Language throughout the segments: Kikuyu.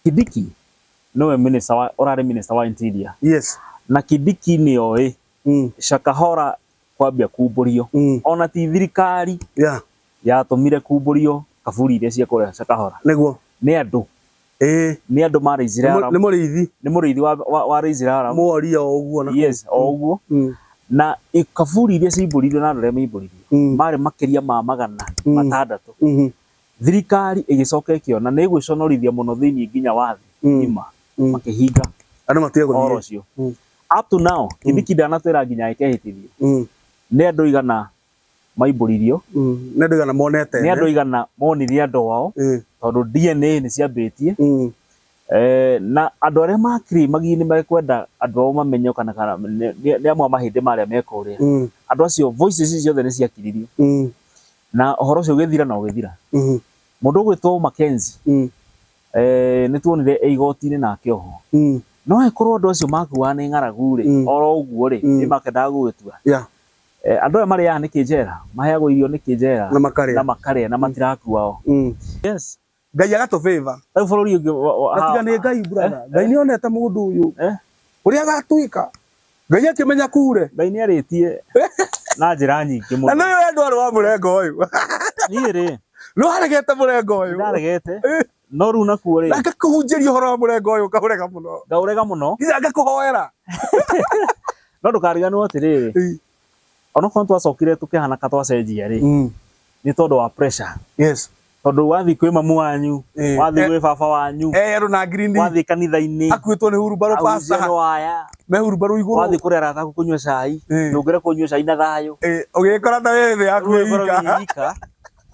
Kidiki nĩwe minister wa ũrarĩ minister wa interior Yes. na Kidiki nĩoĩ Mm. Shakahola kwambia kumbũrio Mm. ona ti thirikari Yeah. yatũmire kumbũrio kaburi iria cia kũrĩa Shakahola Nĩguo. nĩ andũ Ĩĩ. nĩ andũ ma raisire Nĩ mũ- Nĩ mũrĩithi. nĩ mũrĩithi wa, wa, wa raisire Aram Mworia o ũguo na. yes o ũguo Mm. na i- kaburi iria cimbũririo na andũ arĩa maimbũririo Mm. marĩ makĩria ma magana Mm. matandatũ Mhm. Thirikari ĩgĩcoka ĩkĩona nĩ ĩgwĩconorithia mũno thĩinĩ nginya wa thĩ Mm. ng'ima, Mm. makĩhinga Andũ matige ũhoro gũthiĩ. ũcio. Mm. Up to now, Kĩbiki ndanatwĩra nginya ekehĩtithio. Mm. Nĩ andũ igana maimbũririo, Mm. Nĩ andũ igana monete. nĩ andũ igana monire andũ ao, Mm. tondũ DNA nĩ ciambĩtie. Mm. Eh, na andũ arĩa makiri magigi nĩ mekwenda andũ ao mamenyo kana kana nĩ nĩ- nĩ amwe a mahĩndĩ marĩa mekũrĩa. Mm. Andũ acio voices icio ciothe nĩ ciakiririo. Mm. Na ũhoro ũcio ũgĩthira na ũgĩthira. Mũndũ ũgwĩtwo Mackenzie eeh nĩ tuonire e igoti-inĩ nake oho. No angĩkorwo andũ acio makuaga nĩ ng'aragu rĩ, oro ũguo rĩ, nĩ makĩendaga gũgĩtua. Andũ aya marĩaga nĩkĩ njera? Maheagwo irio nĩkĩ njera? Na makarĩa na matirakua o. Yes. Ngai agatũ favor. Rĩu bũrũri ũngĩ wa- wa- Na tiga nĩ Ngai brother. Ngai nĩ onete mũndũ ũyũ. Eh? Ũrĩa agatwĩka. Ngai akĩmenya kure. Ngai nĩ arĩtie na njĩra nyingĩ Na mũno. nĩ ũyũ ndwarĩ wa mũrengo ũyũ. Niĩ rĩ, Nĩ waregete mũrengo ũyũ. ndaregete, Eh. no rĩu nakuo rĩ, Na ngakũhunjĩria ũhoro wa mũrengo ũyũ ũkaũrega mũno. ngaũrega mũno, Nginya ngakũhoera. no ndũkariganĩrwo atĩrĩrĩ, Eh. onokorwo nĩ twacokire tũkĩhana ka twacenjia-rĩ, Mm. nĩ tondũ wa pressure. Yes. Tondũ wathiĩ kwĩ mamu wanyu, Eh, wathiĩ eh. gwĩ baba wanyu, Eh, andå na ngirindi wathiĩ kanitha-inĩ, akuĩtwo nä hurumbarå agũithia pasta nĩ waya, me hurumbarå igå wathiĩ kũrĩ arata aku kũnyua cai, Eh. ndũngĩre kũnyua cai na thayũ. å gä kora na wä thä yaku Rĩu ũkorwo ĩika wĩ wika,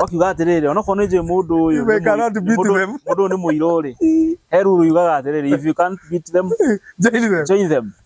ũkiuga atĩrĩrĩ onokorwo nĩ njũĩ mũndũ ũyũ You nĩ cannot mũi- beat mũndũ- them. mũndũ ũyũ nĩ mũirũ-rĩ he ruru yugaga atĩrĩrĩ if you can't beat them, Join them. join them.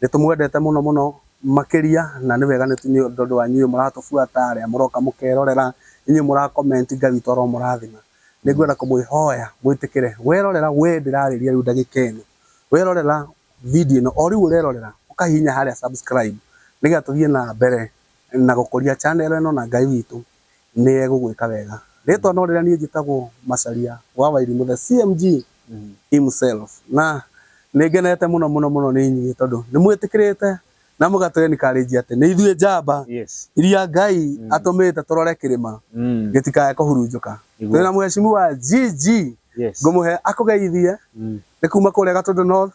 Nĩ tũmwendete mũno mũno makĩria na nĩ wega nĩ tondũ wa inyuĩ mũratũbuata, arĩa mũroka mũkerorera, inyuĩ mũra comment, Ngai witũ aromũrathima. Nĩ ngwenda kũmwĩhoya mwĩtĩkĩre, werorera, wee ndĩrarĩria rĩu ndagĩka ĩno, werorera video ĩno, o rĩu ũrerorera, ũkahihinya harĩa subscribe nĩgetha tũthiĩ na mbere na gũkũria channel ĩno na Ngai witũ nĩ egũgwĩka wega. Rĩtwa no rĩrĩa niĩ njĩtagwo Macharia wa Wairimũ the CMG himself. Na nĩ ngenete mũno mũno mũno nĩ inyuĩ tondũ nĩ mwĩtĩkĩrĩte na mũgatũ encourage atĩ nĩ ithuĩ njamba iria Ngai atũmĩte tũrore kĩrĩma gĩtikae kũhurunjũka. Twĩ na Mheshimiwa GG ngũmũhe akũgeithie nĩ kuma kũrĩa Gatũndũ North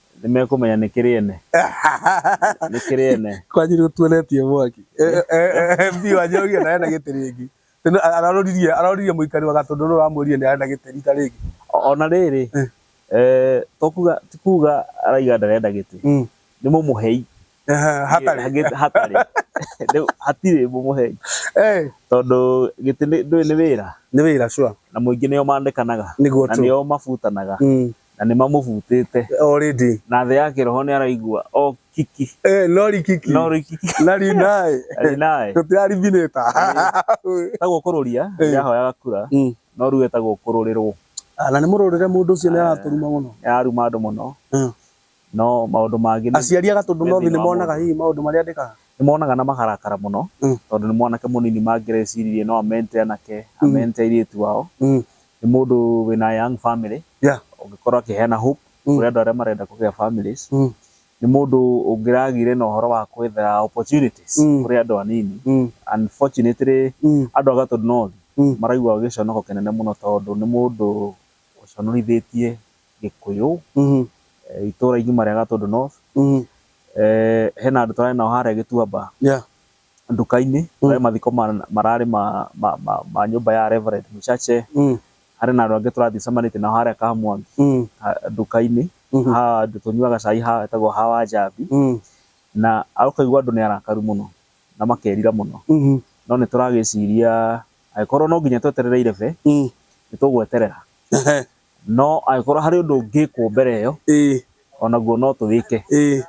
Nĩ mekũmenya nĩ kĩrĩ ene. Nĩ kĩrĩ ene. Kwanyu nĩ gũtuonetie mwaki. MP wa Njohi ena ena gĩtĩ rĩngĩ. Aroririe aroririe mũikari wa Gatũndũ nĩ ũramwĩrire nĩ ena gĩtĩ rita rĩngĩ. Ona rĩrĩ, to kuga ti kuga araiga ndarenda gĩtĩ. Nĩ mũmũhei. Hatarĩ. Hatarĩ. Rĩu hatirĩ mũmũhei. Tondũ gĩtĩ ndũĩ nĩ wĩra. Nĩ wĩra sure. Na mũingĩ nĩo mandĩkanaga. Nĩguo true. Na nĩo mabutanaga. na nĩ mamũbutĩte already na thĩ ya kĩroho nĩ araigua o kiki eh no rikiki no rikiki na rinae arĩ naye tũtirariminĩta etagwo kũrũria Eh. rĩrĩa ahoyaga kura Mm. no rĩu etagwo kũrũrĩrwo Ah, na nĩ mũrũrĩre mũndũ ũcio nĩ aratũruma mũno nĩ araruma andũ mũno Mm. No maũndũ mangĩ nĩ. Aciari a Gatũndũ no thĩna wa monaga mũndũ. hihi maũndũ marĩa andĩkaga? Nĩ monaga na makarakara mũno Mm. tondũ nĩ mwanake mũnini mangĩreciririe no amente anake, amente airĩtu ao. Mm. Nĩ mũndũ wĩna young family, Yeah. ũngĩkorwo akĩheana hope Mm. kũrĩ andũ arĩa marenda kũgĩa families. Mm. Nĩ mũndũ ũngĩragĩire na ũhoro wa gwetha opportunities Mm. kũrĩ andũ anini. Mm. Unfortunately, Mm. andũ a Gatũndũ North Mm. maraigua gĩconoko kĩnene mũno tondũ nĩ mũndũ ũconorithĩtie Gĩkũyũ, itũra ingiuma rĩa Gatũndũ North, hena andũ twarĩ nao harĩa Gĩtuamba nduka-inĩ, kwarĩ mathiko mararĩ ma nyũmba ya Rev Mshache, harĩ na andũ angĩ tũrathiĩ tũcemanĩtie nao harĩa Kamwangi nduka-inĩ, handũ tũnyuaga cai hetagwo ha Wanjambi, na ũkaigua andũ nĩ arakaru mũno na makerira mũno, no nĩ tũragĩciria angĩkorwo no nginya tweterere irebe, nĩ tũgweterera No angĩkorwo harĩ ũndũ ũngĩkwo mbere ĩyo, ĩĩ, onaguo no tũwĩke, ĩĩ,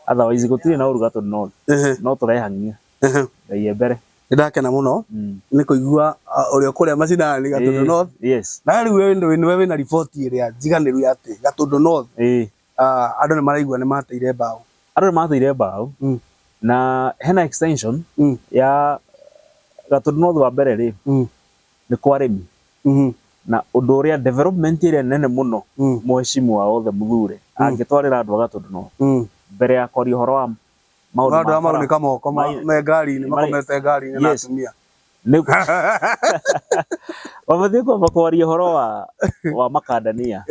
otherwise gũtirĩ na ũru gatũ no, ehe, no tũrehang'ia ehe. Ngai e mbere. Nĩ ndakena mũno Mm. nĩ kũigua a, ũrĩa ũkũrĩa macinani Gatũndũ Ĩĩ, North. Yes. Na rĩu we nĩ- nĩwe wĩna riboti ĩrĩa njiganĩru ya atĩ Gatũndũ North Ĩĩ. ah, andũ nĩ maraigua nĩ mateire mbaũ. Andũ nĩ mateire mbaũ Mm. na hena extension Mm. ya Gatũndũ North wa mbere rĩ, Mm. nĩ kwa arĩmi na ũndũ ũrĩa development ĩrĩa nene mũno mũheshimiwa wothe mũthure angĩtwarĩra andũ a Gatũndũ North mbere ya kwaria ũhoro wa maũndũ ma bara. Andũ aya maraunĩka moko me ngari-inĩ makomete ngari-inĩ na atumia. Mabatiĩ kwamba kwaria ũhoro wa makandania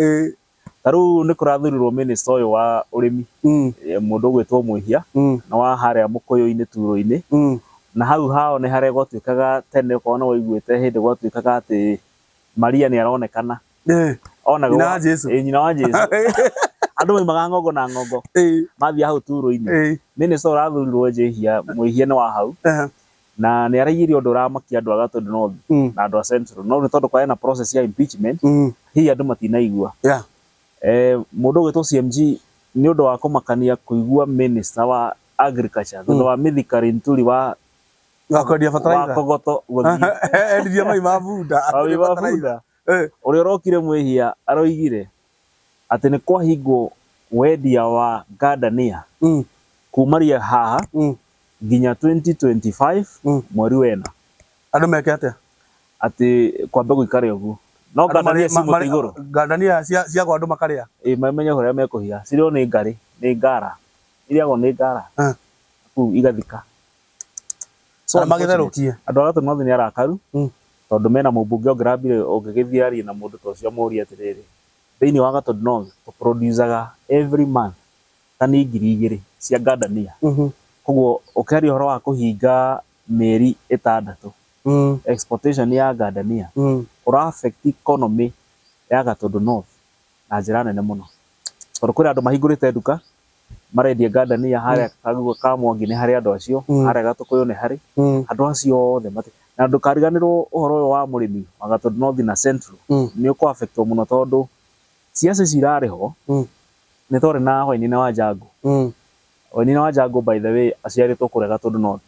ta rĩu nĩ kũrathurirwo mĩnĩsta ũyũ wa ũrĩmi Mm. eh, mũndũ ũgwĩtwo mwĩhia Mm. na wa harĩa mũkũyũ-inĩ turo-inĩ Mm. na hau hao nĩ harĩa gwatuĩkaga tene okorwo nĩ waiguĩte hĩndĩ gwatuĩkaga atĩ maria nĩ aronekana Eh. onaga Nyina wa Jesu. Eh, nyina wa jesu andũ maimaga ng'ongo na ng'ongo Eh. mathiĩ hau turo-inĩ Eh. mĩnĩsta ũrathurirwo njĩhia mwĩhia nĩ wa hau Aha. Na nĩ araigire ũndũ ũramakia andũ a Gatũndũ North na andũ a Central. No rĩu tondũ kwarĩ na process ya impeachment, hihi andũ matinaigua. Mũndũ ũgwĩtwo CMG nĩ ũndũ wa kũmakania kũigua minister wa agriculture thutha wa Mithika Linturi wa Kogoto gũthiĩ, wa Wabunda, ũrĩa ũrokire mwĩhia aroigire. atĩ nĩ kwahingwo wendia wa ngandania Mm. kuumaria haha Mm. nginya 2025 Mm. mweri wena Andũ meke atĩa? atĩ kwambe gũikare ũguo no Andũ ngandania marĩ- ci ma- mũtĩ marĩ- igũrũ Ngandania cia cia gwa andũ makarĩa. ĩ mamenye ũrĩa mekũhiga cirĩo nĩ ngarĩ nĩ ngara irĩagwo nĩ ngara Ah. kuu igathika So Arĩa magĩtherũkie. unfortunate. Andũ a Gatũ North nĩ arakaru Mm. tondũ mena mũmbunge ũngĩrambire ũngĩgĩthiĩ arie na mũndũ ta ũcio amũrie atĩrĩrĩ, thĩinĩ wa Gatũ North tũ producaga every month tani ngiri igĩrĩ cia ngandania. Mhm. Koguo ũkĩaria ũhoro wa kũhinga mĩeri ĩtandatũ Mm. exportation ya ngandania Mm. ũra affect economy ya Gatũndũ North. na njĩra nene mũno. Tondũ kwĩna andũ mahingũrĩte nduka, marendia ngandania harĩa kaguo ka Mwangi nĩ harĩ andũ acio, harĩa Gatũkũyũ nĩ harĩ, andũ acio othe matirĩ. Na ndũkariganĩrwo ũhoro ũyũ wa mũrĩmi wa Gatũ North na Central nĩ ũkũ affect wo mũno tondũ ciaca icio irarĩ ho, nĩ twarĩ na Wainaina Wanjangũ. Wainaina Wanjangũ by the way aciarĩtwo kũrĩa Gatũndũ North.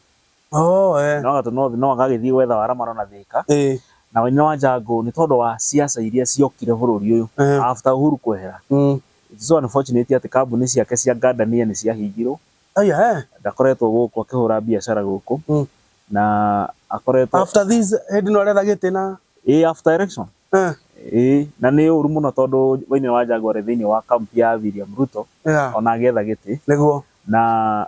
Oh, eh. No gatũ no no gagĩthiĩ gwetha wara maro na thĩka. Eh. Na Wainaina wa Njangũ nĩ tondũ wa siasa iria ciokire bũrũri ũyũ Eh. after Uhuru kwehera. Mm. It is so unfortunate atĩ kambuni ciake cia ngandania nĩ ciahingirwo. Aya, eh. Ndakoretwo gũkũ akĩhũra biacara gũkũ. Mm. Na akoretwo After this, hĩndĩ ĩno aretha gĩtĩ na Ĩĩ after election. Eh. Ĩĩ na nĩ ũru mũno tondũ Wainaina wa Njangũ arĩ thĩinĩ wa camp ya William Ruto Yeah. ona agĩetha gĩtĩ. Nĩguo. Na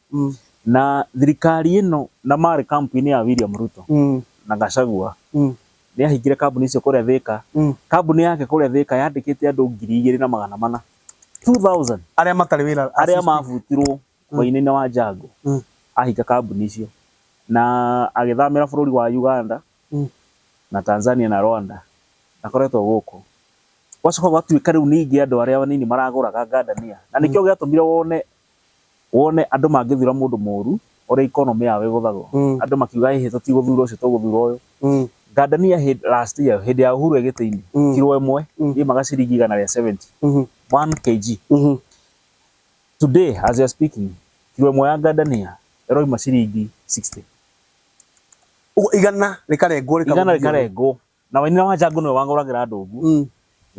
Mm. na thirikari ĩno na marĩ kampu-inĩ ya William Ruto Mm. na Gachagua Mm. nĩ ahingire kambuni icio kũrĩa Thika Mm. kambuni yake kũrĩa Thika yandĩkĩte andũ ngiri igĩrĩ na magana mana 2000 arĩa matarĩ wĩra arĩa assist- mabutirwo mwaininĩ wa Njango Mm. ahinga kambuni icio na agĩthamĩra bũrũri wa Uganda Mm. na Tanzania na Rwanda akoretwo gũkũ gwacoka gwatuĩka rĩu ningĩ andũ arĩa anini maragũraga ngandania na nĩkĩo gĩatũmire wone wone andũ mangĩthura mũndũ mũru ũrĩa economy yao ĩgũthagwo Mm. andũ makiuga ĩhĩ tũtigũthura ũcio tũgũthura ũyũ Mm. ngandania hĩ- last year hĩndĩ ya Uhuru egĩtĩ-inĩ Mm. kiro ĩmwe Mm. yaimaga ciringi igana rĩa 70 Mhm. 1 kg Mhm. today as we are speaking kiro ĩmwe ya ngandania ĩroima ciringi 60 Ũguo igana rĩkarengwo rĩkagũthio. igana rĩkarengwo Na wainĩra wa njangũ nĩwe wang'ũragĩra ndũngũ. Mm.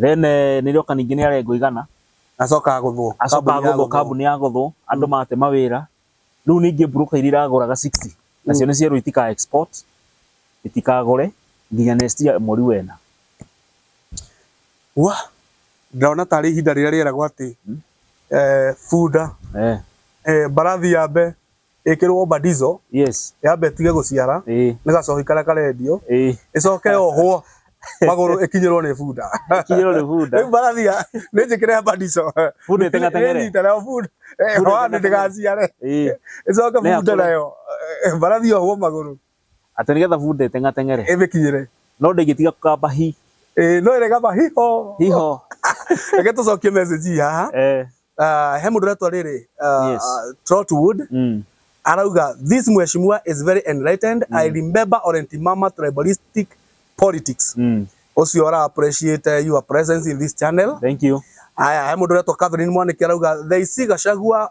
Then eh, nĩrĩoka ningĩ nĩ arengwo igana. Acoka agũthwo. Acoka Kambuni ya agũthwo kambuni ya gũthwo, andũ mate mawĩra. Rĩu ningĩ broker iria iragũraga 60, nacio nĩ cierwo itika export, itikagũre nginya next year mweri wa ĩna. Wah! Ndĩrona tarĩ ihinda rĩrĩa rĩeragwo atĩ, eh, bunda, Eh. eh, mbarathi yambe ĩkĩrwo badizo yes yambe ĩtige gũciara ĩĩ nĩ gacohi karĩa karendio ĩĩ ĩcoke yohwo magũrũ ĩkinyĩrwo nĩ bunda kinyĩrwo nĩ bunda rĩu barathia nĩ njĩkĩre badizo bunda ĩteng'ateng'ere nyita nayo bunda Bunda ĩhane ĩteng'ateng'ere. ndĩgaciare ĩĩ ĩcoke Nĩ bunda akũre. nayo eh, barathia ohwo magũrũ Atĩ nĩgetha bunda ĩteng'ateng'ere. Ĩmĩkinyĩre. No ndĩngĩtiga kũkamba hi. Ĩĩ no ĩrĩkamba hi ho. Hi ho. Reke tũcokie message ii haha. Eeh. Ah, he mũndũ ũretwa rĩrĩ, ah, Yes. ah, Trotwood. Mm. Arauga, this mheshimiwa is very enlightened. I remember Orenti Mama tribalistic politics. Mm. Ũcio ara appreciate your presence in this channel. Thank you. Aya, he mũndũ ũretwa Catherine Mwanĩke arauga, they see Gachagua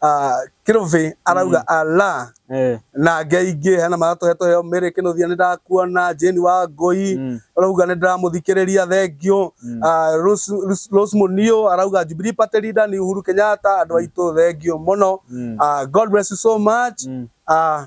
Ah, Kelvin arauga Allah Eh, na ngei ingĩ hena maratũhetwo heo mĩrĩ kĩnũthia nĩ ndakuona Jane wa ngũi mm, arauga nĩ ndĩramũthikĩrĩria thengio mm. Ah, Rose- Rose- Rose Munio arauga Jubilee Party leader ni Uhuru Kenyatta andũ aitũ thengio mũno Mm. Ah, God bless you so much Mm. Ah,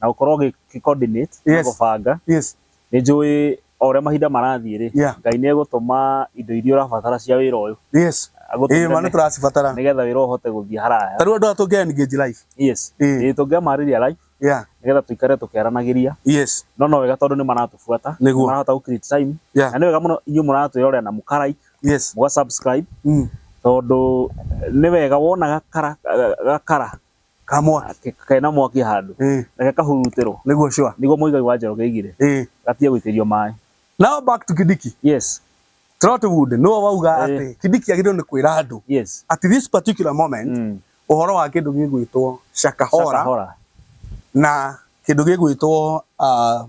na gũkorwo gĩ coordinate na Yes. gũbanga yes nĩ njũĩ o ũrĩa mahinda marathiĩ rĩ Yeah. ngai nĩ egũtũma indo iria ũrabatara cia wĩra ũyũ yes ĩĩ ma nĩ agũtũmĩre tũracibatara nĩgetha wĩra ũhote gũthiĩ haraya ta rĩu andũ aya tũngĩ engage life yes Ĩĩ. Ĩĩ, tũngĩamarĩria live yeah nĩgetha tũikare tũkĩaranagĩria yes no no wega tondũ nĩ maratũbuata Nĩguo. marahota gũ create time yeah na nĩ wega mũno inyuĩ mũratwĩrorera na mũka like yes mũga subscribe mm. tondũ eh, nĩ wega wona gakara ga- gakara Kamwa. Ke- kena mwaki handũ Eh. reke kahurutĩrwo Nĩguo sure. nĩguo mũigai wa Njoroge aigire Eh. gatige gũitĩrio maĩ Now back to Kidiki. yes Trotwood nĩwe wauga Eh. atĩ Kidiki agĩrĩirwo nĩ kwĩra andũ yes at this particular moment Mm. ũhoro wa kĩndũ gĩgwĩtwo Shakahora Shakahora. na kĩndũ gĩgwĩtwo uh,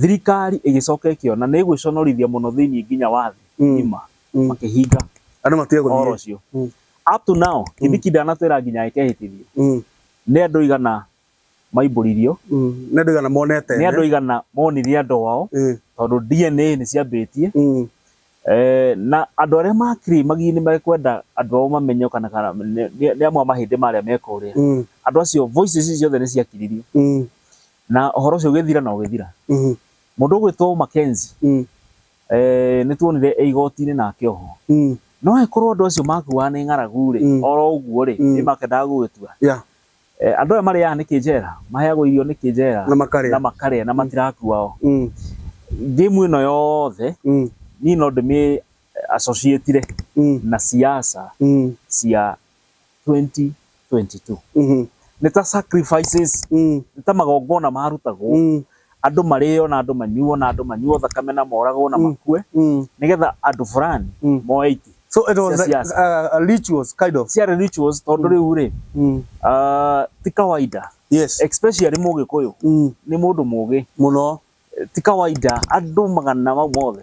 Thirikari ĩgĩcoka ĩkĩona nĩ ĩgwĩconorithia mũno thĩinĩ nginya wa thĩ Mm. ng'ima, Mm. makĩhinga Andũ matige ũhoro gũthiĩ. ũcio. Mm. Up to now, Kĩbiki ndanatwĩra nginya ekehĩtithio. Mm. Nĩ andũ igana maimbũririo, Mm. Nĩ andũ igana monete. nĩ andũ igana monire andũ ao, Mm. tondũ DNA nĩ ciambĩtie. Mm. Eh, na andũ arĩa makiri magigi nĩ mekwenda andũ ao mamenyo kana kana nĩ nĩ- nĩ amwe a mahĩndĩ marĩa mekũrĩa. Mm. Andũ acio voices icio ciothe nĩ ciakiririo. Mm. Na ũhoro ũcio ũgĩthira na ũgĩthira. Mũndũ ũgwĩtwo Mackenzie eeh nĩ tuonire e igoti-inĩ na akĩohwo. No angĩkorwo andũ acio makuaga nĩ ng'aragu rĩ, oro ũguo rĩ, nĩ makĩendaga gũgĩtua. Andũ aya marĩaga nĩkĩ njera? Maheagwo irio nĩkĩ njera? Na makarĩa na matirakua o. Game ĩno yothe niĩ no ndĩmĩ associate-ire na siasa cia 2022 Mhm. nĩ ta sacrifices Mm. nĩ ta magongona marutagwo Mm. andũ marĩo na andũ manyuo na andũ manyuo thakame na moragwo na Mm. makue Mm. nĩgetha andũ fulani Mm. moe iti So it was Yes, like, yes. uh, a rituals kind of. ciarĩ rituals tondũ rĩu rĩ Mm. ah, ti kawaida Yes. especially mũgĩkũyũ Mm. nĩ mũndũ mũgĩ Muno. ti kawaida andũ magana mau mothe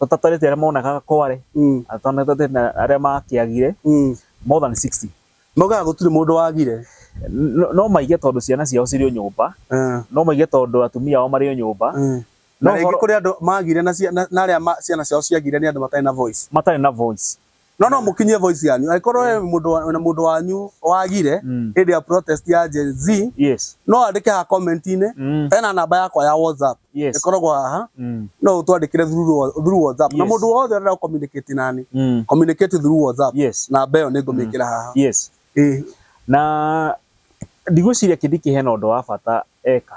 tũtatarĩtie arĩa monaga kware Mm. na tũtatarĩtie na arĩa makĩagire Mm. more than 60 Maugaga gũtirĩ mũndũ wagire. no no maige tondũ ciana ciao cirĩ o nyũmba Eh. no maige tondũ atumia ao marĩ o nyũmba Mm. No Na rĩngĩ ũhoro- kũrĩ andũ magire na cia- na- na arĩa ma- ciana ciao ciagire nĩ andũ matarĩ na voice. matarĩ na voice no no mukinyie voice yanyu angĩkorwo we mundu wa- na mundu wanyu wagire Mm. hĩndĩ ya protest ya Gen Z yes no andĩke ha comment-inĩ Mm. ena namba yakwa ya WhatsApp Yes. ĩkoragwo haha Mm. no ũtwandĩkĩre through wa- through WhatsApp na Yes. mũndũ wothe ũrenda communicate nani Mm. communicate through WhatsApp Yes. namba ĩyo nĩngũmĩkĩra haha yes Ĩĩ. na ndigwĩciria kĩndĩ kĩhena ũndũ wa bata eka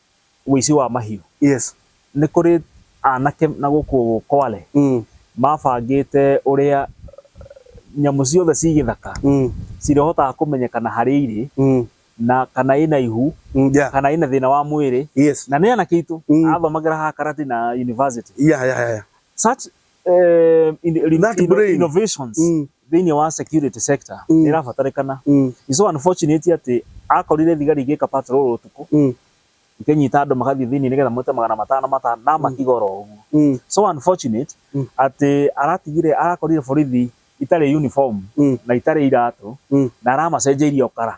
ũici wa mahiũ. Yes. Nĩ kũrĩ anake na gũkũ Kwale mabangĩte ũrĩa nyamũ ciothe ci gĩthaka cirĩhotaga kũmenyekana harĩa irĩ na kana ĩna ihu kana ĩna thĩna wa mwĩrĩ na nĩ anake aitũ athomagĩra haha Karatina University. Such eh, in, in, That in, brain. innovations Mm. thĩinĩ wa security sector Mm. nĩ ĩrabatarĩkana Mm. It's so unfortunate atĩ akorire thigari igĩka patrol ũtukũ Mm. ikĩnyita andũ magathiĩ thĩinĩ nĩgetha mote magana matano matano na makigora ũguo Mm. so unfortunate Mm. atĩ aratigire arakorire borithi itarĩ uniform Mm. na itarĩ iratũ Mm. na aramacenjeirie ũkara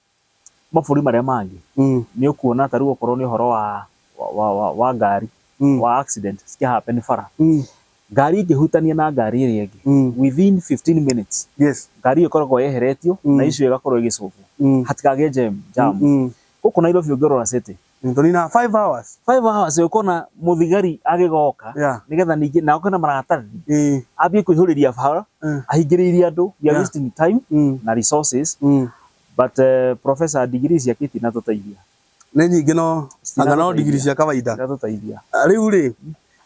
mabũrũri marĩa mangĩ Mm. nĩ ũkuona ta rĩu okorwo nĩ ũhoro wa, wa, wa, wa, wa ngari Mm. wa accident cikä happen bara Mm. ngari ĩngĩhutania na ngari ĩrĩa ĩngĩ Mm. within 15 minutes Yes. ngari ĩyo ĩkoragwo yeheretio Mm. na icio ĩgakorwo ĩgĩcũngwo Mm. hatikagĩe jam jam Mm. gũkũ Nairobi ũngĩrora city Nĩtũ nina five hours. Five hours ũkona mũthigari agĩgoka. Yeah. Nĩgetha ningĩ na ũkona maratathi. Ĩĩ. Ambie kũihũrĩria bara. Mm. Ahingĩrĩirie andũ. We are Yeah. wasting time Mm. na resources. Mm. But eh, Professor degree ciake itinatũteithia. Nĩ nyingĩ no anga no ndigiri cia kawaida. Itinatũteithia. Ah, Rĩu rĩ,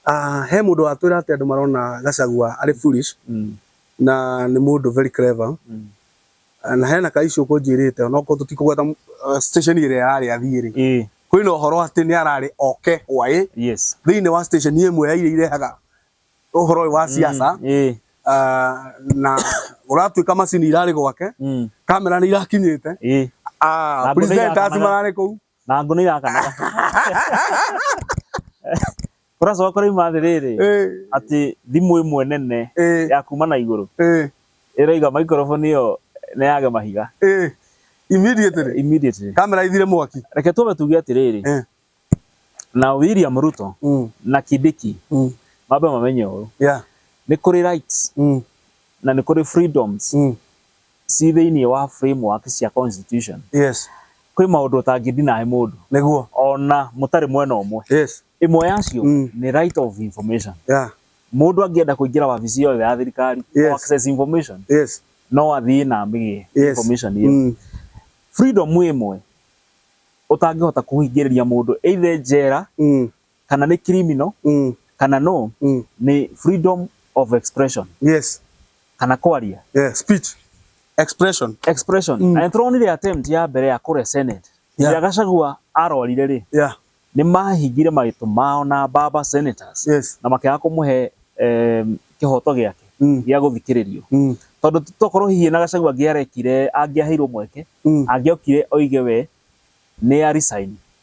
ah, he mũndũ watwĩra atĩ andũ marona Gachagua arĩ foolish Mm. na nĩ mũndũ very clever. Mm. Na hena ka issue kũnjĩrĩte onokorwo tũtikũgweta station ĩrĩa yarĩ athiĩ rĩ, ĩĩ kwĩ na ũhoro atĩ nĩ ararĩ oke Hwaĩ yes thĩinĩ wa station ĩmwe ya iria irehaga ũhoro ũyũ wa siasa ĩĩ ah, na ũratuĩka macini irarĩ gwake mm kamera nĩ irakinyĩte ĩĩ ah, Andũ nĩ presenters irakamera. mararĩ kũu na ngũnũ irakanaga kũracoka kũraima atĩrĩrĩ atĩ thimũ ĩmwe nene ya kuma na igũrũ ĩroiga microphone ĩyo nĩ yage mahiga immediately immediately kamera ithire mwaki reke twambe tuge atĩrĩrĩ na William Ruto mm. na Kidiki mm. mambe mamenye ũũ nĩ kũrĩ rights mm. na nĩ kũrĩ freedoms ci thĩinĩ wa framework cia constitution yes kwĩ maũndũ ũtangĩ deny mũndũ nĩguo ona mũtarĩ mwena ũmwe yes ĩmwe yacio Mm. nĩ right of information yeah mũndũ angĩenda kũingĩra wabici yothe ya thirikari Yes. to access information yes no athiĩ na amĩgĩe yes information ĩyo Mm. freedom ĩmwe ũtangĩhota kũhingĩrĩria mũndũ either njera Mm. kana nĩ criminal Mm. kana no Mm. nĩ freedom of expression Yes. kana kwaria Yeah. Speech. Expression. expression Mm. na nĩ tũronire attempt ya mbere ya kũrĩa senate Yeah. ya gacagua arorire rĩ Yeah. nĩ mahingire marĩtũ mao na baba senators Yes. na makĩaga kũmũhe em, kĩhoto gĩake Mm. gĩa gũthikĩrĩrio Mm. tondũ tokorwo hihi na gacagua angĩarekire angĩaheirwo mweke Mm. angĩokire oige we nĩ ya resign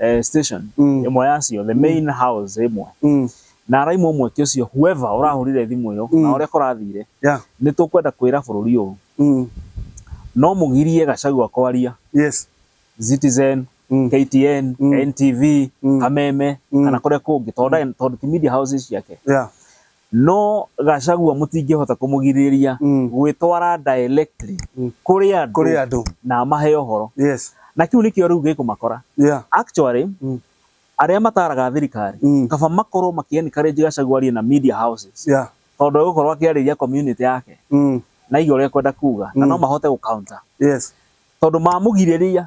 eh, station Mm. ĩmwe yacio the main house ĩmwe Mm. na araimwo mweke ũcio whoever ũrahũrire thimũ ĩyo Mm. na ũrĩa kũrathire Yeah. nĩ tũkwenda kwĩra bũrũri ũyũ Mm. no mũgirie gacagua kwaria Yes. citizen Mm. ktn Mm. ntv Mm. kameme Mm. kana kũrĩa kũngĩ tondũ ndarĩ- tondũ ti media houses ciake Yeah. No Gachagua mũtingĩhota kũmũgirĩrĩria Mm. gwĩtwara directly Mm. kũrĩ andũ kũrĩ andũ na amahe ũhoro. yes Na kĩu nĩkĩo rĩu gĩkũmakora. yeah Actually, Mm. arĩa mataraga thirikari, Mm. kaba makorwo makĩ encourage Gachagua arie na media houses. yeah Tondũ egũkorwo akĩarĩria community yake mm. na iga ũrĩa ekwenda kuga na Mm. no mahote gũ counter. yes Tondũ mamũgirĩrĩria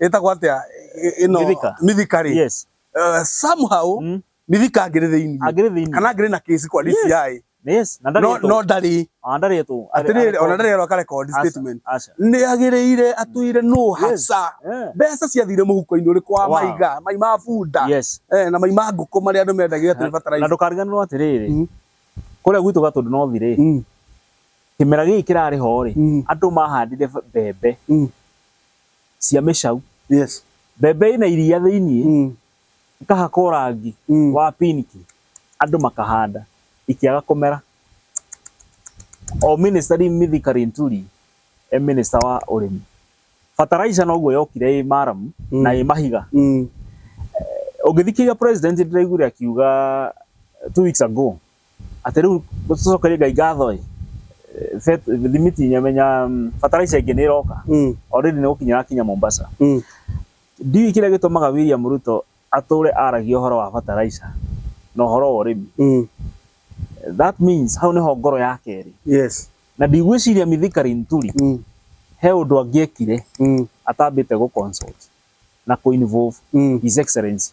ĩtagwo atĩa ĩ- ĩno Mithika. mithika rĩ yes Eh, somehow Mm. mithika angĩrĩ thĩinĩ angĩrĩ thĩinĩ kana angĩrĩ na kĩsi kwa Yes. DCI yes na no ndarĩtwo no ndarĩ Ah, ndarĩtwo atĩrĩrĩ ona ndarĩ areka record Aca, statement aca. nĩ agĩrĩire atwire no Yes. haca Eh, mbeca ciathire mũhuko-inĩ ũrĩ kwa Wow. maiga mai ma bunda yes eh, na mai ma ngũkũ marĩa andũ mendagia atĩ nĩ na bataraitha ndũkariganĩrwo atĩrĩrĩ Mm. kũrĩa gwitũ gatũndũ nothi rĩ Mm, kĩmera gĩkĩ kĩrarĩ ho rĩ mm, andũ mahandire mbembe mm. cia mĩcau Yes. mbembe ĩna iria thĩiniĩ Mm. ĩkahakwo rangi Mm. wa pinki andũ makahanda ikĩaga kũmera o minister rĩu Mithika Linturi e minister wa ũrĩmi fertilizer noguo yokire ĩ maramu Mm. na ĩ mahiga Mm. ũngĩthikĩrĩria president ndĩraiguire akiuga two weeks ago Atĩ rĩu tũcokerie Ngai ngatho ĩ, bet- thimiti nyamenya mm, fertilizer ĩngĩ nĩ ĩroka Mm. already nĩ gũkinya ĩrakinya Mombasa. Mm. Ndiũĩ kĩrĩa gĩtũmaga William Ruto atũre aragia ũhoro wa fertilizer na ũhoro wa ũrĩmi. Mm. That means hau nĩho ngoro yake ĩrĩ. Yes. Na ndigwĩciria Mithika Linturi Mm. he ũndũ angĩekire Mm. atambĩte gũ consult na kũ involve Mm. His Excellency.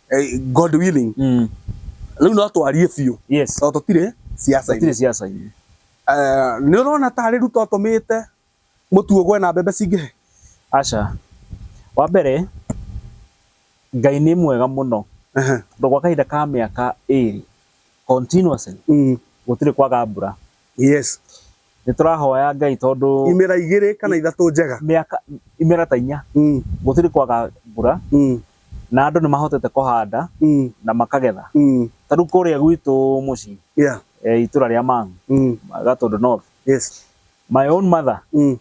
eh, God willing Mm. rĩu no twarie biũ Yes. tondũ tũtirĩ ciaca-inĩ Tire siasa hii. Eh, nĩ ũrona tarĩ ruto tũmĩte mũtuo gwe na mbembe cingĩhe Acha. Wa mbere Ngai nĩ mwega mũno. Ehe. Tondũ gwa kahinda ka mĩaka ĩrĩ continuously Mm. gũtirĩ kwaga mbura. yes nĩ tũrahoya ngai tondũ imera igĩrĩ kana ithatũ njega mĩaka imera ta inya mm, gũtirĩ kwaga mbura mm, na andũ nĩ mahotete kũhanda mm, na makagetha mm, ta rĩu kũrĩa gwitũ mũciĩ yeah, e, itũra rĩa Mang'u mm, Gatũndũ North yes, my own mother mm,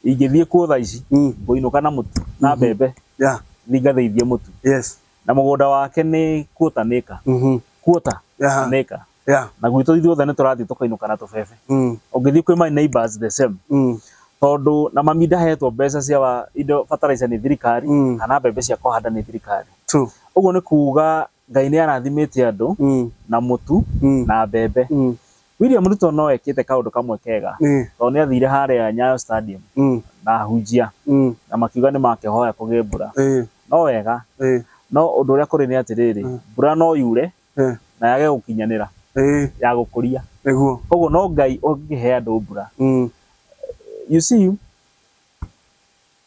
ingĩthiĩ kuo thaa ici mm, ngũinũka na mũtu na Mhm. mbembe yeah, thiĩ ngathĩithie mũtu yes, na mũgũnda wake nĩ kuota nĩka mhm, kuota yeah, nĩka Yeah. na gwitũ ithuothe nĩ tũrathiĩ tũkainũka na tũbebe Mm. ũngĩthiĩ kwĩ my neighbors the same Mm. tondũ na mami ndahetwo mbeca cia wa- indo fertilizer nĩ thirikari Mm. kana mbembe cia kũhanda nĩ thirikari True. ũguo nĩ kuga ngai nĩ arathimĩte andũ Mm. na mũtu Mm. na mbembe Mm. William Ruto no ekĩte kaũndũ kamwe kega Eh. tondũ nĩ athire harĩa Nyayo Stadium Mm. na ahunjia Mm. na makiuga nĩ makĩhoya kũgĩe mbura Eh. no wega Eh. no ũndũ ũrĩa kũrĩ nĩ atĩrĩrĩ mbura no yure Eh. na yage gũkinyanĩra Eh, ya gũkũria nĩguo. koguo no ngai ũngĩhe andũ mbura Mm, you see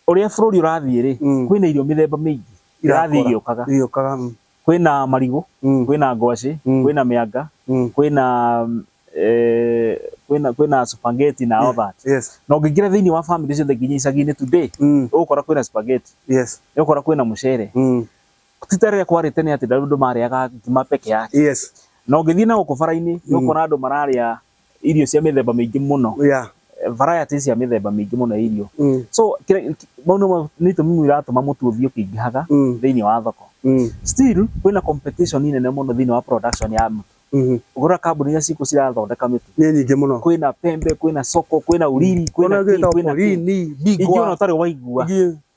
ũrĩa bũrũri ũrathiĩ rĩ Mm. kwĩna irio mĩthemba mĩingĩ irathiĩ Irakũra. igĩũkaga Irĩũkaga. Mm, kwĩna marigũ mm, kwĩna ngwacĩ Mm. kwĩna mĩanga mm. kwĩna mm, eh, kwĩna kwĩna spaghetti na all that Yes. na ũngĩingĩra thĩinĩ wa family ciothe nginya icagi-inĩ today Mm, ũgũkora kwĩna spaghetti yes. ũgũkora kwĩna mũcere Mm, Tita rĩrĩa kwarĩte nĩ atĩ andũ marĩaga ngima peke yake. Yes. Na ũngĩthiĩ na gũkũ bara-inĩ nĩ ũkuona andũ mararĩa irio cia mĩthemba mĩingĩ mũno. Yeah. Varieties cia mĩthemba mĩingĩ mũno ya irio. Mm. So kĩrĩa- kĩ- mau nĩmo nĩ itũmi imwe iratũma mũtu ũthiĩ ũkĩingĩhaga Mm. thĩinĩ wa thoko. Mm. Still kwĩna competition nene mũno thĩinĩ wa production ya mũtu. Mhm. Ũngĩrora kambuni iria cikuo cirathondeka mĩtu, Nĩ nyingĩ mũno. kwĩna Pembe, kwĩna Soko, kwĩna Uriri, kwĩna Ona Tea, gĩtagwo kwĩna Tea. Polini, Bigwa. Ingĩ ona ũtarĩ waigua. Ingĩ-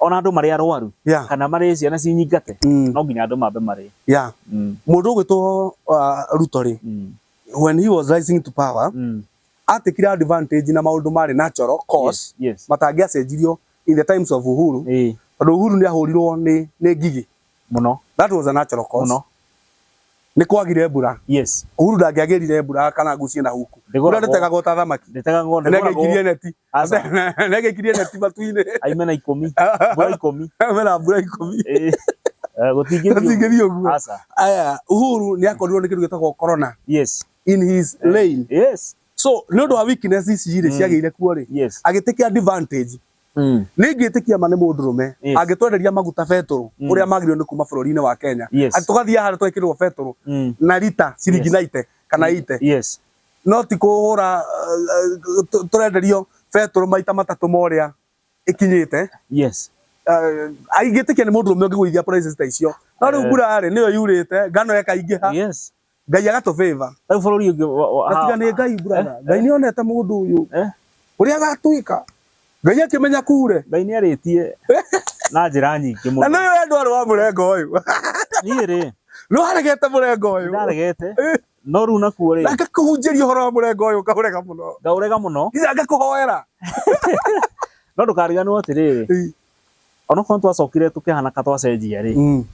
ona andũ marĩ arwaru yeah. kana marĩ ciana cinyingate mm. no nginya andũ mambe marĩ yeah. mm. mũndũ ũgwĩtwo uh, ruto rĩ mm. when he was rising to power mm. atikire advantage na maundu mari natural cause yes, yes. matangiacenjirio in the times of uhuru tondu uhuru ni ahurirwo ni ni ngigi Mũno. That was a natural cause. Mũno. Nĩ kwagire mbura. Yes. Uhuru ndangĩagĩrire mbura kana ngucie na huku. Mbura ndĩtegagwo ta thamaki. Ndĩtegagwo nĩ ngoragwo. Nĩgĩkirie neti. Aca. Nĩgĩkirie neti matu-inĩ. Aimena ikũmi. Mbura ikũmi. Aimena mbura ikũmi. Eh. Eh, gũtingĩthiĩ ũguo aya uhuru nĩ akorirwo nĩ kĩndũ gĩtagwo corona yes in his eh, lane yes so nä å ndå wa weakness ici rä mm. ciagä ire kuo rä agä tä kä advantage Mm. nĩ ingĩtĩkia ma nĩ mũndũ rũme Yes. angĩtwenderia maguta betũrũ Mm. ũrĩa magĩrĩirwo nĩ kuma bũrũri-inĩ wa Kenya Yes. Atĩ tũgathiaga harĩa twekĩrĩrwo betũrũ Mm. na rita ciringi Yes. na ite kana ite Yes. no ti kũhũra uh, uh, tũ- tũrenderio betũrũ maita matatũ ma ũrĩa ĩkinyĩte Yes. uh, ingĩtĩkia nĩ mũndũ rũme ũngĩgũithia prices ta icio no rĩu Eh. mbura-rĩ nĩyo yurĩte ngano ĩkaingĩha Yes. Ngai agatũ favor. Rĩu bũrũri ũngĩ wa- wa- Na tiga nĩ Ngai brother. Ngai nĩ onete mũndũ ũyũ. Eh? Ũrĩa agatwĩka. Ngai akĩmenya kure. Ngai nĩ arĩtie na njĩra nyingĩ Na mũno. nĩ ũyũ andũ arĩ wa mũrengo ũyũ. Niĩ rĩ, Nĩ waregete mũrengo ũyũ. ndaregete, Eh. no rĩu nakuo rĩ, Na ngakũhunjĩria ũhoro wa mũrengo ũyũ ũkaũrega mũno. ngaũrega mũno, Nginya ngakũhoera. no ndũkariganĩrwo atĩrĩrĩ, Eh. onokorwo twacokire tukihana ka twacenjia ri mm.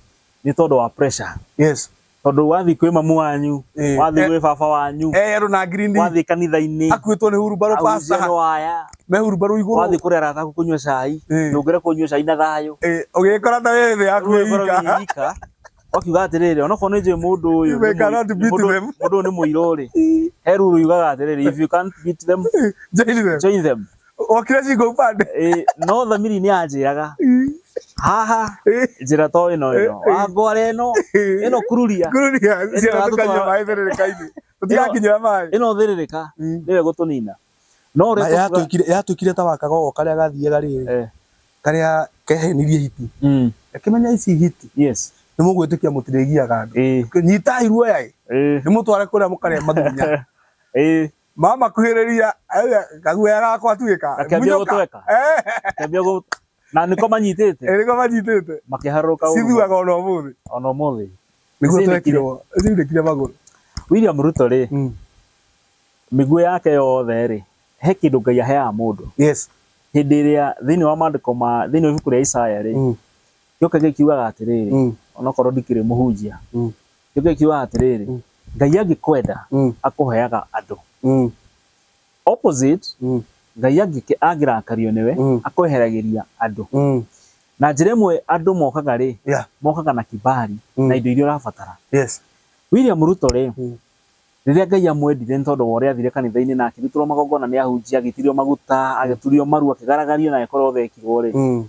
ni tondu wa pressure yes tondu wathi kwi mamu wanyu eh, wathi eh, gwi baba wanyu eh ru na green wathi kanitha ini akwitwo ni huru baro pasta no aya me huru baro iguru wathi kuri ara taku kunywa cai eh. ndungire kunywa cai na thayo eh ugikora ta we thi yaku ika wakiuga atiriri onokorwo ni njui mundu uyu mundu ni muiro ri he ruru yugaga atiriri if you can't beat them join them Wokire cingo upande. Ĩ, no thamiri nĩ yanjĩraga haha njĩra to ĩno ĩno wangware ĩno ĩno kururia Kururia Ĩno ciana ĩratũtwara- tukanyua maĩ therereka-inĩ. Tũtigakinyĩra maĩ. ĩno thĩrĩrĩka Mm. nĩwe gũtũnina no ũrĩa Na tũkuga- yatwĩkire yatwĩkire ta wa kagogo karĩa gathiaga rĩrĩ Eh, karĩa kehenirie hiti mm, akĩmenya ici hiti yes nĩ mũgwĩtĩkia mũtirĩgiaga andũ Ĩ, nyitai ruoya ĩ, ĩ, nĩ mũtware kũrĩa mũkarĩa mathunya ĩ, Mama kuhĩrĩria eh, kaguoya gakwa tuĩka. Gakĩambia gũtweka. Eh. Gakĩambia gũ na nĩko manyitĩte. Eh, nĩko manyitĩte. Makĩharũrũka. Cithuaga ona ũmũthĩ. Ona ũmũthĩ. Nĩguo twekirwo. Cindĩkire magũrũ. William Ruto rĩ. Mm. Mĩguĩ yake yothe rĩ. He kĩndũ Ngai aheaga mũndũ. Yes. Hĩndĩ ĩrĩa thĩinĩ wa maandĩko ma thĩinĩ wa ibuku rĩa Isaya rĩ. Mm. Gĩoka gĩkiugaga atĩrĩrĩ. Mm. Onokorwo ndikĩrĩ mũhunjia. Mm. Nĩ kĩo kiugaga atĩrĩrĩ, Mm. Ngai angĩkwenda Mm. akũheaga andũ. Mm. Opposite, Mm. Ngai angĩke- angĩrakario nĩwe Mm. akweheragĩria andũ. Mm. Na njĩra ĩmwe andũ mokaga rĩ, Yeah. mokaga na kibali Mm. na indo iria ũrabatara. Yes. William Ruto rĩ, Mm. rĩrĩa Ngai amwendire nĩ tondũ wa ũrĩa athire kanitha-inĩ na akĩrutĩrwo magongona nĩ ahunjia, agĩitĩrĩrio maguta, agĩturio maru, akĩgaragario na agĩkorwo othekirwo rĩ, Mm.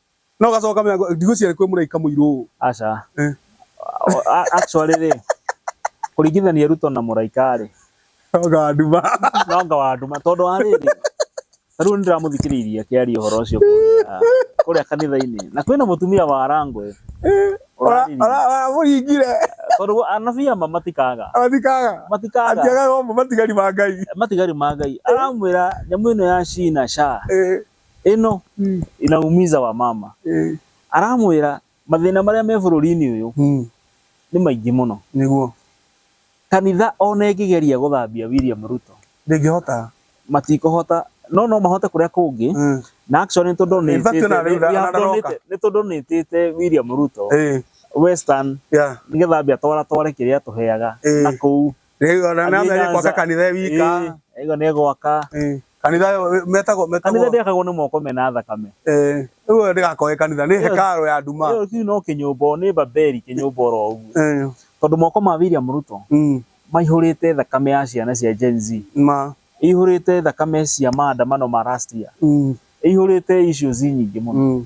No gacoka kamenya ndigwĩciria kwĩ mũraika mũirũ ũũ. Aca. Eh. Actually rĩ, kũringithania Ruto na mũraika rĩ. Noga wa nduma. Noga wa nduma tondũ wa rĩrĩ. Ta rĩu nĩndĩramũthikĩrĩirie akĩaria ũhoro ũcio kũrĩa kanitha-inĩ. Na kwĩna mũtumia wa Arangwe. Ũramũringire. Tondũ anabii ama matikaga. Matikaga. Matikaga. Atiagaga ũmwe matigari ma Ngai. Matigari ma Ngai. Aramwĩra nyamũ ĩno ya China sha. Eh. ĩno mm. inaumiza wa mama mm. aramwira mathina maria me bururi-ini uyu mm. ni maingi muno niguo kanitha ona ingigeria guthambia William Ruto ndingihota matikuhota no no mahote kuria kungi mm. na actually tondu ni ni tondu ni tite William Ruto eh. western yeah. nigetha ambia twara tware kiria tuheaga eh. na kuu Rĩu ona nĩ amenya gwaka kanitha e wika. Aiga nĩ gwaka. Kanitha metagwo metagwo. Kanitha ndĩakagwo nĩ moko mena thakame. Eh, rĩu ũyũ ndĩgakoe kanitha nĩ hekarũ ya nduma. Rĩu kĩu no kĩnyũmba nĩ Babeli kĩnyũmba oro ũguo. Tondũ moko ma William Ruto mm. maihũrĩte thakame ya ciana cia Gen Z. Ma. Ihũrĩte thakame cia maandamano ma last year. Mm. Ihũrĩte issues nyingĩ mũno. Mm.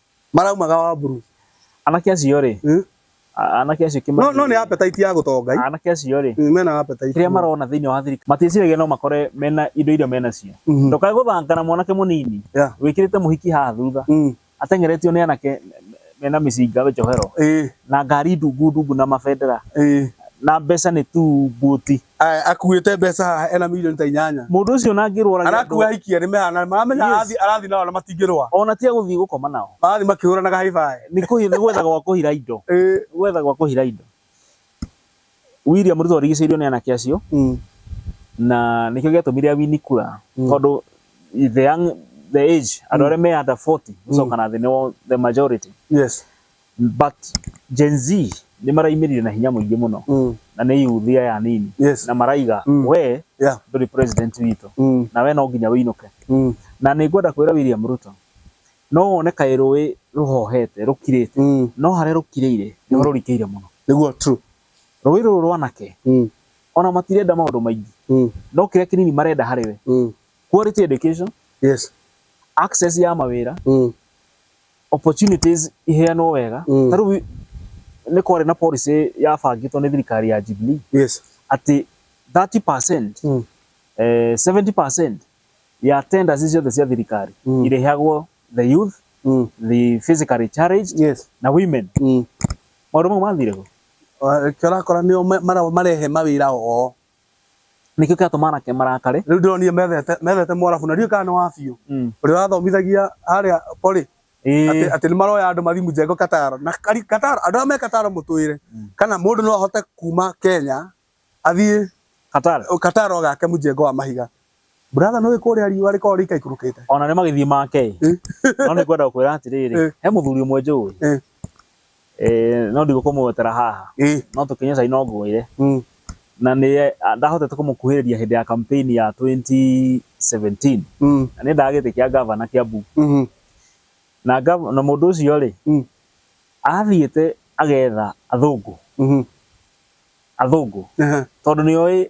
maraumaga wamburu anake acio rĩ Mm. a- anake acio kĩmani no no nĩ appetite ya gũtonga ii. anake acio rĩ Mm, mena appetite kĩrĩa marona thĩinĩ wa thirikari matiĩciragia no makore mena indo iria menacio Mhm. ndokae gũthanga na mwanake mũnini Yeah. wĩkĩrĩte mũhiki haha thutha Mm, ateng'eretio nĩ anake mena mĩcinga njohero ĩĩ, na ngari ndungu ndungu na mabendera ĩĩ. na mbeca nĩ tu mbuti Aya, akuĩte mbeca haha ena milioni ta inyanya Mũndũ ũcio ona angĩrwara arakua ahikia nĩ mehana maramenya Yes. arathi arathi nao na matingĩrũa ona tiga gũthiĩ gũkoma nao marathi makĩhũranaga haibaĩ nĩ kũhi- nĩ gwetha gwa kũhira indo Ĩĩ. Nĩ gwetha gwa kũhira indo William Ruto arigicĩirio nĩ anake acio Mm. na nĩkĩo gĩatũmire awini kura Mm. tondũ the young the age andũ arĩa me under 40 gũcoka na thĩ nĩo the majority yes but Gen Z nĩ maraimirire na hinya mũingĩ mũno Mm. na nĩ yuthi aya anini Yes. na maraiga Mm. we Yeah. ndũrĩ president witũ Mm. na we no nginya wĩinũke Mm. na nĩ ngwenda kwĩra William Ruto no wone kaĩ rũĩ rũhohete rũkirĩte Mm. no harĩa rũkirĩire nĩho rũrikĩire mũno Nĩguo true. rũĩ rũrũ rwanake Mm. ona matirenda maũndũ maingĩ Mm. no kĩrĩa kĩnini marenda harĩ we Mm. quality education Yes. access ya mawĩra Mm. opportunities iheanwo wega Mm. ta rĩu nĩ kwarĩ na policy yabangĩtwo nĩ thirikari ya Jubilee yes atĩ 30% Mm. eh, 70% ya tenders ici ciothe cia thirikari Mm. irĩheagwo the youth Mm. the physically challenged yes na women Mm. maũndũ mau mathire kũ Ah, kĩo ũrakora nĩo ma- mara- marehe mawĩra oo Nĩkĩo kĩatũma anake marakare. Rĩu ndĩronire methete methete Mwarabu na ndiũĩ kana nĩ wa biũ. Mm. Ũrĩa wathomithagia harĩa Poly Ĩĩ. atĩ atĩ nĩ maroya andũ mathiĩ Mjengo Kataro. Na kari- Kataro andũ arĩa me Kataro mũtwĩre Mm. kana mũndũ no ahote kuma Kenya athiĩ Qatar. Kataro agake Mjengo wa mahiga. Brother nĩ kũrĩa riũa rĩkoragwo rĩikaikũrũkĩte. Ona nĩ magĩthiĩ make-ĩ. No nĩ ngwenda gũkwĩra atĩrĩrĩ, Eh. he mũthuri ũmwe njũĩ. Eh. Eh, no ndigũkũmwetera haha. Ĩ. No tũkĩnyue cai no ngwĩre. Mm. Na nĩ a- ndahotete kũmũkuhĩrĩria hĩndĩ ya campaign ya 2017. Mm. Na nĩ endaga gĩtĩ kĩa ngavana Kiambu. Mhm. Na ngav- na mũndũ ũcio-rĩ, Mm. athiĩte agetha athũngũ. Mhm. Athũngũ. Ehe. Tondũ nĩoĩ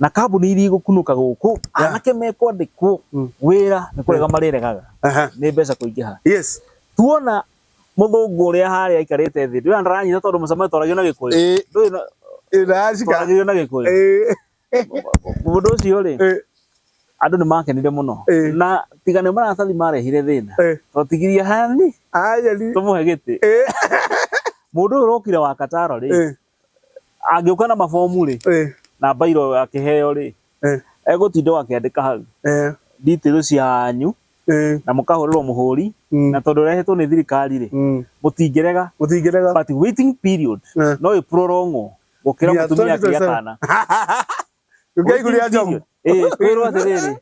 na kambuni iria igũkunũka gũkũ Yeah. anake mekwandĩkwo Mm. wĩra nĩ kũrega marĩregaga Aha. nĩ mbeca kũingĩha Yes. tuona mũthũngũ ũrĩa harĩa aikarĩte thĩ ndũrĩa ndaranyita tondũ mũcemanio twaragio na gĩkũyũ Eh, ndũrĩ na- eh, ndacika. twaragio na gĩkũyũ Eh, mũndũ ũcio rĩ eh, andũ nĩ makenire mũno Eh. na tiga nĩ maratathi marehire thĩna eh. twatigirie hani Aya ni. tũmũhe gĩtĩ Eh, mũndũ ũyũ ũrokire wa kataro rĩ eh. angĩũka na mabomu rĩ eh, na mbairo akĩheo rĩ eh, egũtinda akĩandĩka hau eh, details cianyu eh, na mũkahũrĩrwo mũhũri Mm. na tondũ ũrehetwo nĩ thirikari rĩ mm. mũtingĩrega Mũtingĩrega. but waiting period Eh. no ĩprorongwo gũkĩra Nginya mũtumia akĩgĩa 2027. kana Ũkaiguria njogu. Eh, twĩrwo atĩrĩrĩ.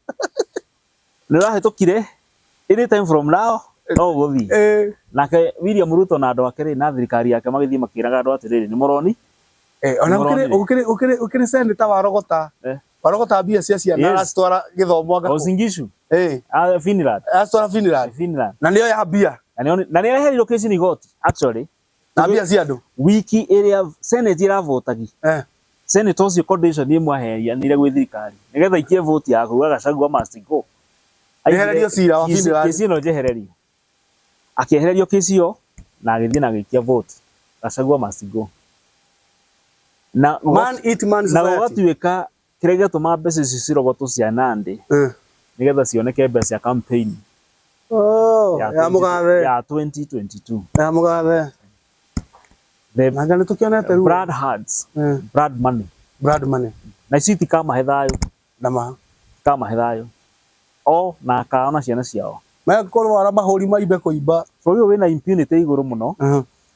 Nĩ ũrahĩtũkire any time from now no gũthiĩ. Eh. Nake William Ruto na andũ ake rĩ na thirikari yake magĩthiĩ makĩraga andũ atĩrĩrĩ nĩ mũroni. Eh, ona ũkĩrĩ ũkĩrĩ ũkĩrĩ ũkĩrĩ seneta wa Rogota. Eh. Wa Rogota mbia cia ciana yes. aracitwara gĩthomo ngakũ. Osingishu. Eh. A ah, Finland. Aracitwara Finland. Finland. Na nĩyo ya mbia. Na nĩ areherirwo kĩci ni igoti actually. na mbia cia andå wiki ä rä a senate ĩravotagi eh. senate ũcio condition ĩmwe aheanire gwĩ thirikari nĩ getha ikie voti ya kuga gacagua must go Njehererio cira wa Fini Rani. kĩci ĩno njehererio akĩehererio kĩci ĩyo na agĩthiĩ na agĩikia voti gacagua must go na man eat man na society gũgatuĩka Kĩrĩa gĩatũma mbeca icio cirogotwo cia Nandi Eh. nĩ getha cioneke mbeca cia campaign Oh, ya ya mũgathe. ya 2022. Ya mũgathe. The Nanga nĩ tũkĩonete ruo. Brad Hards, Eh, Brad Money. Brad money. Na ici itikamahe thayũ, Ndama. itikamahe thayũ. O na akao na ciana ciao. Maya korwo ara mahũri maimbe kũimba. Bũrũri ũyũ wĩna impunity igũrũ mũno. Mhm.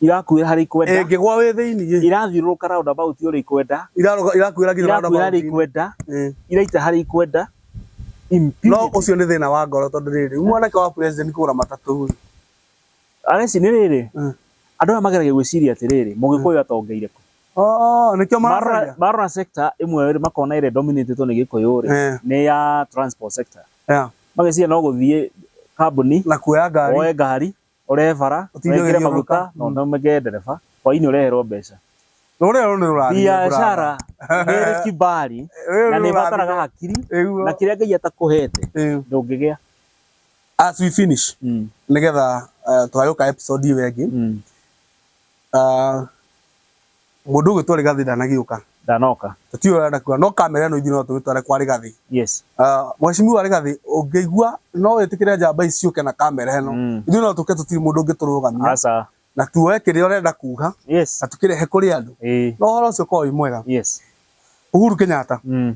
Irakuĩra harĩa ikwenda. Ĩngĩgwa wĩ thĩinĩ. Irathiũrũrũka round about ũrĩa ikwenda. Irakuĩra nginya round about. Irakuĩra harĩa ikwenda. Iraita harĩa ikwenda. No ũcio nĩ thĩna wa ngoro tondũ rĩrĩ, mwanake wa president kũgũra matatũ rĩ. Areci nĩ rĩrĩ, andũ aya mageragia gwĩciria atĩrĩrĩ, mũgĩkũyũ atongeire kũ? Oh, nĩkĩo maracaria. Marora sector ĩmwe rĩ, makona ĩrĩa dominatĩtwo nĩ gĩkũyũ rĩ, nĩ ya transport sector. Mageciria no gũthiĩ kambuni. Na kuoya ngari. Woe ngari. ũrehe bara, wĩkĩre Ũtindagĩrio maguta nduka. na ũthondekere ndereba, hwaĩ-inĩ ũreherwo mbeca. Rũrĩrĩ rũrũ nĩ rũrathimwo Biacara brother. nĩ ĩrĩ kibali Rũrĩrĩ na rũrũ nĩ ĩbataraga rũrathimwo. hakiri Ĩguo. na kĩrĩa Ngai atakũhete Ĩu. ndũngĩgĩa. As we finish, Mm, nĩgetha eh, tũgagĩũka episode ĩyo ĩngĩ, mm. Ah, mũndũ ũgĩtwarĩ gathĩ ndanagĩũka ndanoka tũtiũĩ ũrĩa ndakuga no kamera ĩno ithuĩ no tũgĩtware kwa Rĩgathĩ yes Ah, mheshimiwa Rĩgathĩ ũngĩigua no wĩtĩkĩre njamba ici ciũke na kamera ĩno Mm. ithuĩ no tũke tũtirĩ mũndũ ũngĩtũrũgamia aca na tuoe kĩrĩa ũrenda kuga yes na tũkĩrehe kũrĩ andũ ĩĩ no ũhoro ũcio ũkorwo wĩ mwega yes Uhuru Kenyatta mm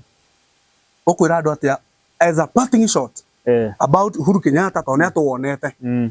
ũkwĩra andũ atĩa as a parting shot eh about Uhuru Kenyatta tondũ nĩ atũwonete mm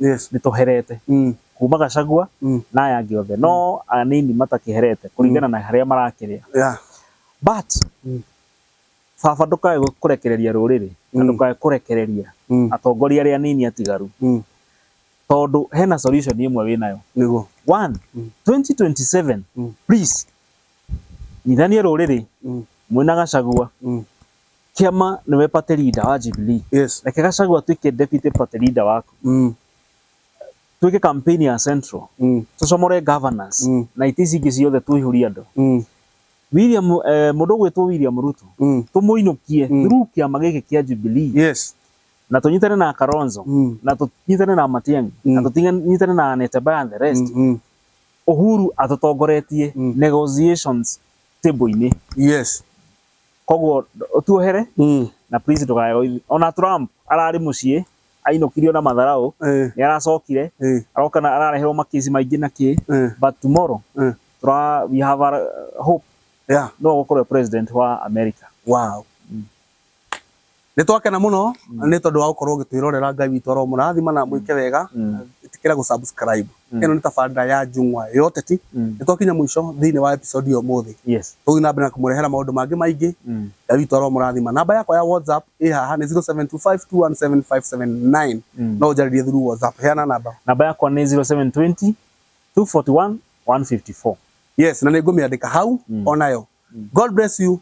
Yes. nĩtũherete Mm. kuma Gachagua Mm. na aya angĩ othe no anini matakĩherete kũringana na harĩa marakĩrĩa Yeah. but Mm. baba ndũkae gũ- kũrekereria rũrĩrĩ na Mm. ndũkae kũrekereria Mm. atongoria arĩa anini atigaru Mm. tondũ hena solution ĩmwe wĩ nayo Nĩguo. one Mm. 2027 Mm. please nyitania rũrĩrĩ Mm. mwĩna Gachagua Mm. Kĩama nĩwe party leader wa Jubilee. Yes. Reke Gachagua atuĩke deputy party leader waku. Mm. Twĩke campaign ya Central. Mm. Tũcomore governors. Mm. Na itĩ ici ingĩ ciothe tũihũrie andũ. Mm. William eh, mũndũ ũgwĩtwo William Ruto. Mm. Tũmũinũkie mm. through kĩama gĩkĩ kĩa Jubilee. Yes. Na tũnyitane na Kalonzo. Mm. Na tũnyitane na Matiang'i. Mm. Na tũnyitane na Anete Baya and the rest. Mm. Mm. Uhuru atũtongoretie mm. negotiations table-inĩ. Yes. Koguo tuohere Mm. na please ndũkae gũthiĩ. Ona Trump ararĩ mũciĩ ainũkirio na matharaũ Eh. nĩ aracokire Eh. aroka na arareherwo makĩci maingĩ na kĩ Eh. but tomorrow Eh. tura we have a hope Yeah. no gũkorwo president wa America. Wow. Nĩ twakena mũno nĩ tondũ wa gũkorwo ũgĩtwĩrorera. Ngai witũ aromũrathima na amwĩke wega. Ĩtĩkĩra gũ subscribe. Ĩno nĩ tabarĩra ya Njung'wa ya Ũteti. Nĩ twakinya mũico thĩinĩ wa episode ya ũmũthĩ. Tũgũthiĩ na mbere na kũmũrehera maũndũ mangĩ maingĩ. Ngai witũ aromũrathima. Namba yakwa ya WhatsApp ĩ haha nĩ 0725217579. No ũnjarĩrie through WhatsApp. Heana namba. Namba yakwa nĩ 0720241154. Yes, na nĩ ngũmĩandĩka hau o nayo. God bless you.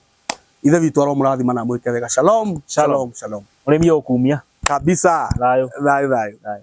Ithe witũ aromũrathima na amwĩke wega. Shalom, shalom, shalom. Mũrĩmi ũkumia. Kabisa. Thayũ. Thayũ, thayũ.